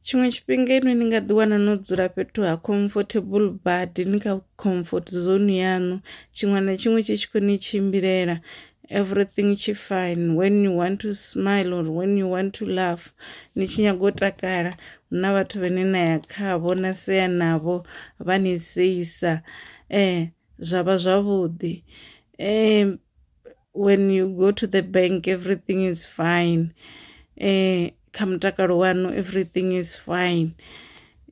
Tshiṅwe tshifhinga inwi ni nga ḓi wana no dzula fhethu ha comfortable badi ni kha comfort zone yaṋu tshiṅwe na tshiṅwe tshi tshi khou ni tshimbilela everything tshi fine when you want to smile or when you want to laugh ni tshi nyaga u takala hu na vhathu vhane na ya khavho na sea navho vha ni seisa zwa vha zwavhuḓi . when you go to the bank everything is fine eh kha mutakalo wanu everything is fine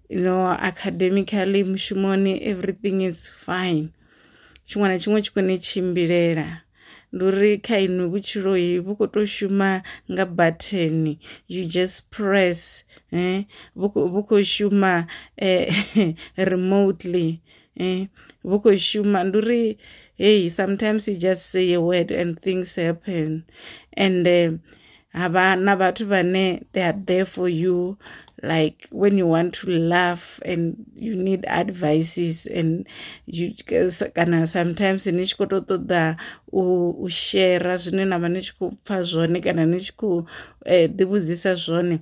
you know academically mushumoni everything is fine tshiṅwe na tshiṅwe tshi kone tshimbilela ndi uri kha inwi vhutshiloi vhu khou tou shuma nga batheni you just press eh vhu khou shuma eh remotely eh vho khou shuma ndi uri hey sometimes you just say a word and things happen and eh, hava na vhathu vhane they are there for you like when you want to laugh and you need advices and you kana sometimes ni tshi khou tou ṱoḓa u shera zwine na vha ni tshi khou pfha zwone kana ni tshi khou eh, ḓivhudzisa zwone eh,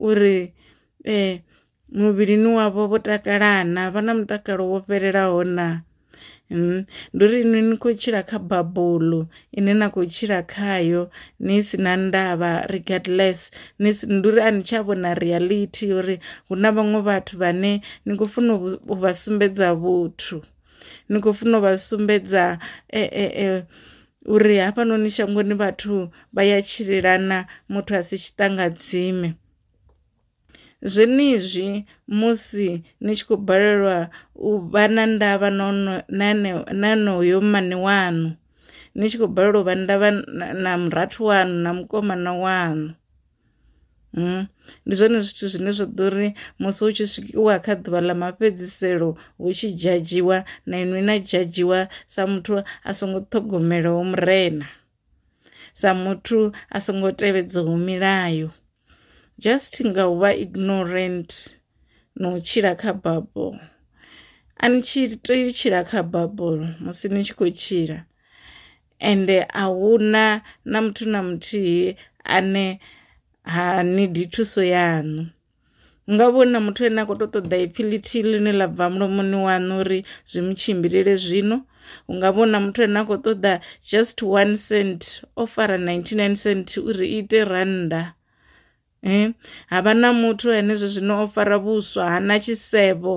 uri muvhilini wavho vho takala na vha na mutakalo wo fhelelaho na. Ndi uri inwi ni kho tshila kha babulo ine na kho tshila khayo ni si na ndavha regardless ni si ndi uri a ni tsha vhona reality uri hu na vhaṅwe vhathu vhane ni khou funa u vha sumbedza vhuthu. ni khou funa u vha sumbedza e, e, e, uri hafhanoni shangoni vhathu vha ya tshilelana muthu a si tshiṱangadzime zwenezwi musi ni tshi khou balelwa u vha na ndavha na onoyo mmane waṋu ni tshi khou balelwa u vha ndavha na murathu waṋu na mukomana waṋu Ndi zwone zwithu zwine zwa ḓo ri musi hu tshi swikiwa kha ḓuvha ḽa mafhedziselo hu tshi dzhadzhiwa na inwi na dzhadzhiwa sa muthu a songo ṱhogomelaho murena, sa muthu a songo tevhedzaho milayo just nga u vha ignorant na u tshila kha bufho. A ni tshi tea u tshila kha bufho musi ni tshi khou tshila. Ende a hu na na muthu na muthihi ane ha nidi thuso yaṋu nga vho na muthu ane a kho to ṱoḓa ipfhi ḽithihi ḽine ḽa bva mulomoni waṋu uri zwi mu tshimbilele zwino, hu nga vhona muthu ane a khou ṱoḓa just one cent o fara ninety nine cent uri i ite rannda. Havha na muthu ane zwa zwino o fara vhuswa ha na tshisevho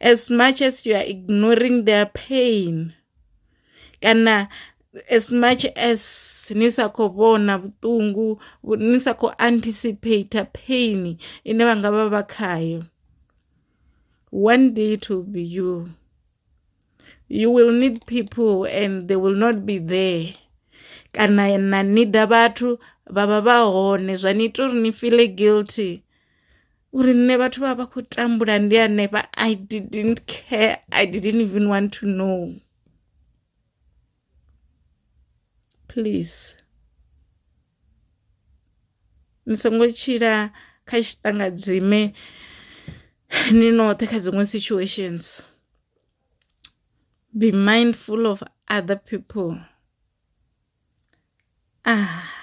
as much as you are ignoring their pain kana as much as ni sa kho vhona vhuṱungu ni sa kho anticipate pain ine vha nga vha vha khayo one day it will be you. you will need people and they will not be there kana na nida vhathu vha vha vha hone zwa ni ita uri ni feel guilty uri nṋe vhathu vha vha kho tambula ndi hanefha I didn't care I didn't even want to know please. ni songo tshila kha tshiṱangadzime ni noṱhe kha dziṅwe situations be mindful of other people ah.